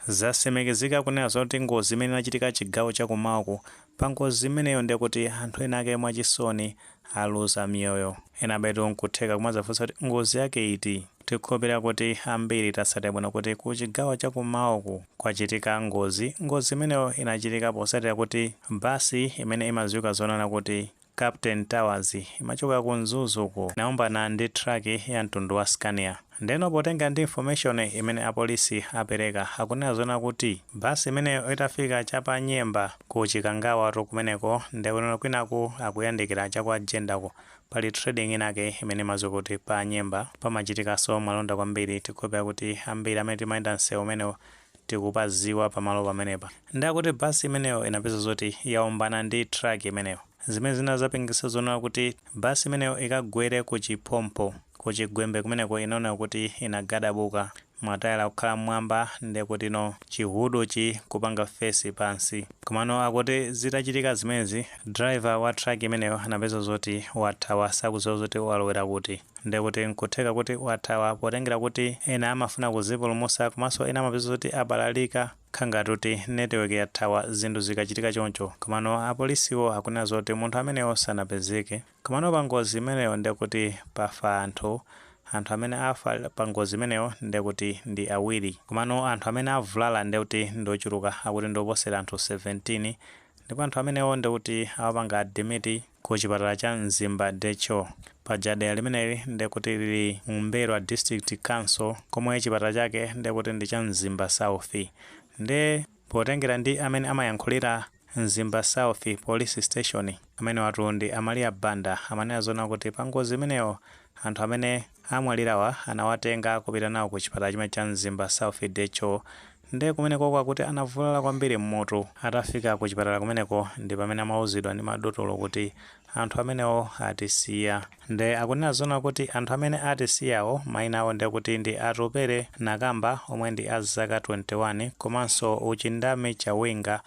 Zasimikizika kunena zoona kuti ngozi imene inachitika chigawo chakumawa uku pangozi imeneyo ndekuti anthu ena ake mwachisoni aluza miyoyo. Ena abale athu nkutheka kumazafunsa kuti ngozi yake iti? Tikhulupilira kuti ambiri tatsatira bwino kuti ku chigawo chakumawa uku kwachitika ngozi, ngozi imeneyo inachitika posatira kuti bus imene imaziwika zonena kuti Captain Tours imachoka ku Mzuzu uku inaombana ndi truck ya mtundu wa Scania. Ndeno potengera ndi information imene apolisi apereka akunena zoona kuti bus imeneyo itafika cha pa Nyemba ku Chikangawatu kumeneko nde kuno kwinaku akuyandikira cha kwa Jendako pali trading inayake imene imadziwika kuti pa Nyemba pamachitikaso malonda kwambiri tikukhulupira kuti ambiri amene timayenda msewu umenewu tikupaziwa pamalo pamenepa ndi akuti bus imeneyo inapeza zoti yaombana ndi truck imeneyo zimene zinazapangisa zonena kuti bus imeneyo ikagwere ku chiphompho ku chigwembe kumeneko inaoneka kuti inagadabuka matayala kukhala mmwamba ndekuti no chihuduchi kupanga face pansi komano akuti zitachitika zimenezi driver wa truck imeneyo anapeza zoti wathawa sakuziwa zoti walowera kuti. Ndi akuti n'kutheka kuti wathawa potengera kuti ena amafuna kuzipulumusa komanso ena amapeza zoti abalalika khangati kuti network yathawa zinthu zikachitika choncho komano apolisiwo akunena zoti munthu ameneyo sanapezeke komano pa ngozi imeneyo ndi akuti pafa anthu anthu amene afa pa ngozi imeneyo ndi akuti ndi awiri komano anthu amene avulala ndi akuti ndi ochuluka akuti ndi oposera anthu 17 ndipo anthu amenewo ndi akuti awapanga admit ku chipatala cha Mzimba DHO. Paja dera limeneli ndekuti lili mu M'mbelwa District Council komwe chipatala chake ndekuti ndi cha Mzimba South. Nde potengera ndi amene amayankhulira Mzimba South Police Station, amenewatu ndi a Maria Banda amanena zoona kuti pa ngozi imeneyo anthu amene amwalirawa anawatenga kupita nawo ku chipatala chimenechi cha Mzimba South DHO Nde kumenekoko akuti anavulala kwambiri mmutu. Atafika ku chipatala kumeneko ndi pamene amauzidwa ndi madotolo kuti anthu amenewo atisiya. Nde akunena zoona kuti anthu amene atisiyawo maina awo ndekuti ndi Atupele Nakamba omwe ndi a zaka 21 komanso Uchindami Chawinga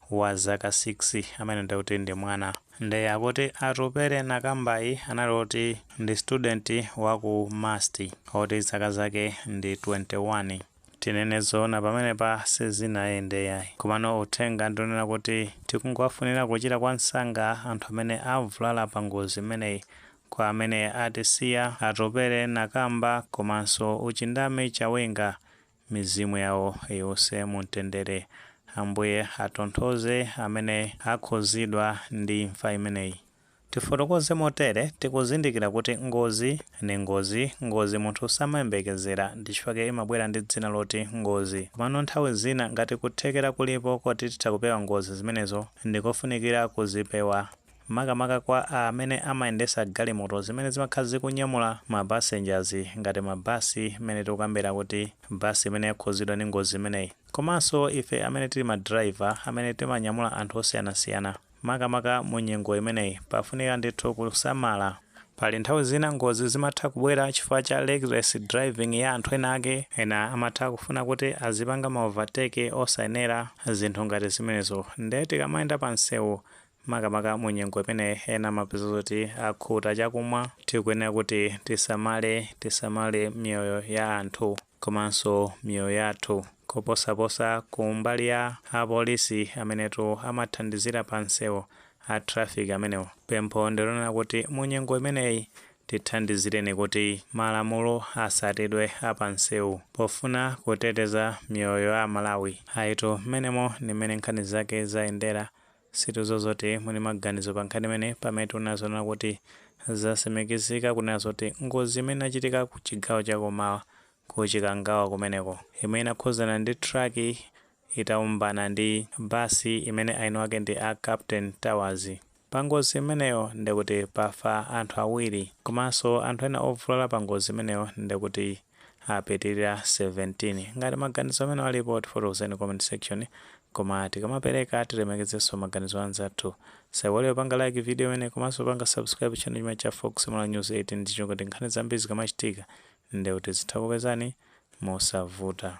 wa zaka 6 amene ndekuti ndi mwana. Nde akuti Atupele Nakambayi anali oti ndi student wa ku MUST oti zaka zake ndi 21. Tinene zoona pamenepa sizinayende yayi. Komano uthenga ndi onena kuti tikungowafunira kuchira kwa msanga anthu amene avulala pa ngozi imeneyi. Kwa amene atisiya, Atupele Nakamba komanso Uchindami Chawinga, mizimu yawo iwuse mu mtendere. Ambuye atonthoze amene akhuzidwa ndi imfa imeneyi. Tifotokoze motere, tikuzindikira kuti ngozi ndi ngozi, ngozi munthu samayembekezera, ndi chifukwa chake imabwera ndi dzina loti ngozi. Komano nthawi zina ngati kuthekera kulipo koti titha kupewa ngozi zimenezo, ndi kofunikira kuzipewa. Makamaka kwa amene amayendesa galimoto zimene zimakhala zikunyamula ma passengers ngati ma bus, mmene tikukambira kuti bus imene yakhuzidwa ndi ngozi imeneyi. Komanso ife amene tili ma driver, amene timanyamula anthu osiyanasiyana. Makamaka mu nyengo imeneyi, pafunika ndithu kusamala. Pali nthawi zina ngozi zimatha kubwera chifukwa cha reckless driving ya anthu ena ake. Ena amatha kufuna kuti azipanga ma overtake osayenera, zinthu ngati zimenezo. Nde tikamayenda pa msewu, makamaka mu nyengo imeneyi ena amapeza zoti akhuta chakumwa, tikuyenera kuti tisamale, tisamale miyoyo ya anthu. komanso miyoyo yathu koposaposa ku mbali ya a polisi amenetu amathandizira pa msewu a traffic amenewo pempho ndi lonena kuti mu nyengo imeneyi tithandizireni kuti malamulo atsatidwe a pa msewu pofuna kuteteza miyoyo ya a Malawi ayitu mmenemo ndi mmene nkhani zake zayendera Situdziwa zoti muli maganizo pa nkhani imeneyi pamene tinena zonena kuti zatsimikizika kunena zoti ngozi imene inachitika ku chigawo cha kumawa ku Chikangawa kumeneko imene inakhuzana ndi truck itaombana ndi bus imene aini wake ndi a Captain Tours pa ngozi imeneyo ndekuti pafa anthu awiri komanso anthu ena ovulala pa ngozi imeneyo ndekuti apitirira 17. Ngati maganizo amene alipo tifotokozeni comment section koma tikamapereka tilemekezenso maganizo a anzathu. Musaiwale kupanga like video imeneyi komanso kupanga subscribe channel chimenechi cha Fox Malawi News 18 ndi cholinga choti nkhani zambiri zikamachitika ndekuti tizitha kukupezani mosavuta.